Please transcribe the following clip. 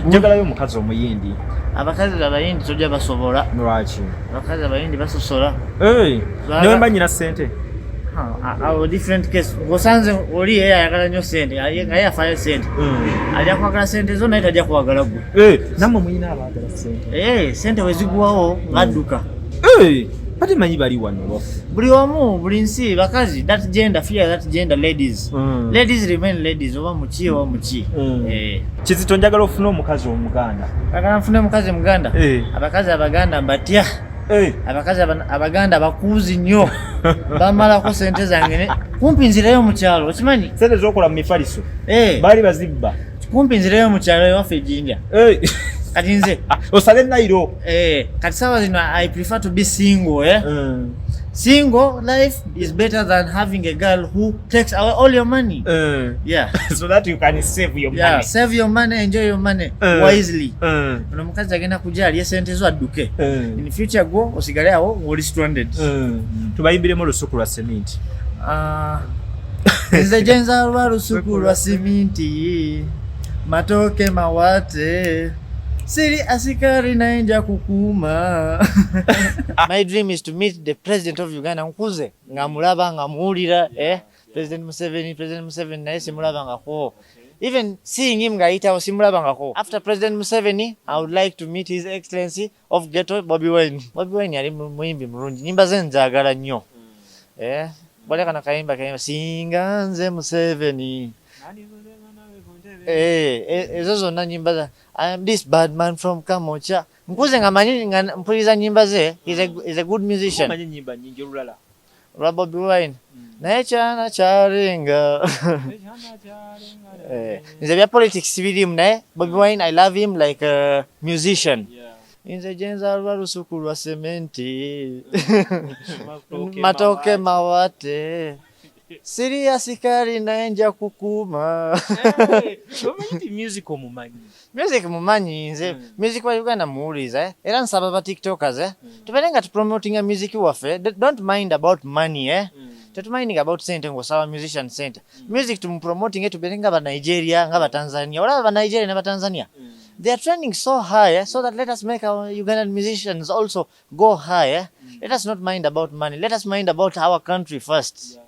njagalayo omukazi omuyindi abakazi abayindi tojja basobola lwaki abakazi abayindi basosola nawe mba nyina sente awo different case osanze oli ye ayagala nyo sente naye afayo sente hmm. ajja kwagala sente zo naye tajja kwagala gwe namwe muyina abagala sente sente wezigwawo ngadduka hmm. Bati manyi bali wano bofu. Buli omu, buli nsi, bakazi, that gender, fear that gender, ladies. Mm. Ladies remain ladies, oba muki, oba muki. Mm. Eh. Kizito njagala ofuna omukazi omuganda. Agala mfuna omukazi omuganda? Eh. Abakazi abaganda mbatya. Eh. Abakazi abaganda bakuuzi nnyo. Bamalako sente zange ne. Kumpi nzirayo mu kyalo, okimanyi? Sente zokola mu mifaliso. Eh. Bali bazibba. kumpi nzireyo mu kyalo ewaffe ejinja eh. kati nze osale nairo eh, kati sawa zino i prefer to be single eh? mm. single life is better than having a girl who takes away all your money mm. yeah so that you can save your yeah, money save your money enjoy your money mm. wisely mm. ono mukazi agenda kuja aliye sente zo adduke mm. in future go osigale awo ngoli stranded mm. tubayimbiremu olusuku lwa cement uh, nze gyenzalwa lusuku lwa siminti matooke mawate siri asikari naye nja kukuuma my dream is to meet the president of uganda nkuze nga mulaba nga muwulira eh? president museveni president museveni naye simulaba ngako even seeing him ngayitawo simulaba ngako after president museveni i would like to meet his excellency of ghetto bobi wine bobi wine yali muyimbi mulungi nyimba ze njagala nnyo hmm. eh bale kana kayimba kayimba singa nze museveni eh, eh, ezo zonna nyimba za i am this bad man from kamocha nkuze nga manyi nga mpuliza nyimba ze is a, is a good musician manyi nyimba nyingi olulala olwa bobi wine naye kyana kyalinga eh, nze bya politics birimu naye bobi wine i love him like a musician nze gyenzalwa lusuku lwa sementi matoke mawate siriya sikali naye nja kukuuma eh, music omumanyi Music mumanyi nze mm. music wa Uganda muwuliza eh? era nsaba ba tiktokers eh? mm. tubere nga tupromotinga music waffe don't mind about money eh? mm. tetuminding about sente ngosaba musician sente mm. music tumupromotinge tubere nga banigeria nga batanzania olaba banigeria ne batanzania mm. they are trending so high eh? so that let us make our ugandan musicians also go high eh? mm. let us not mind about money let us mind about our country first yeah.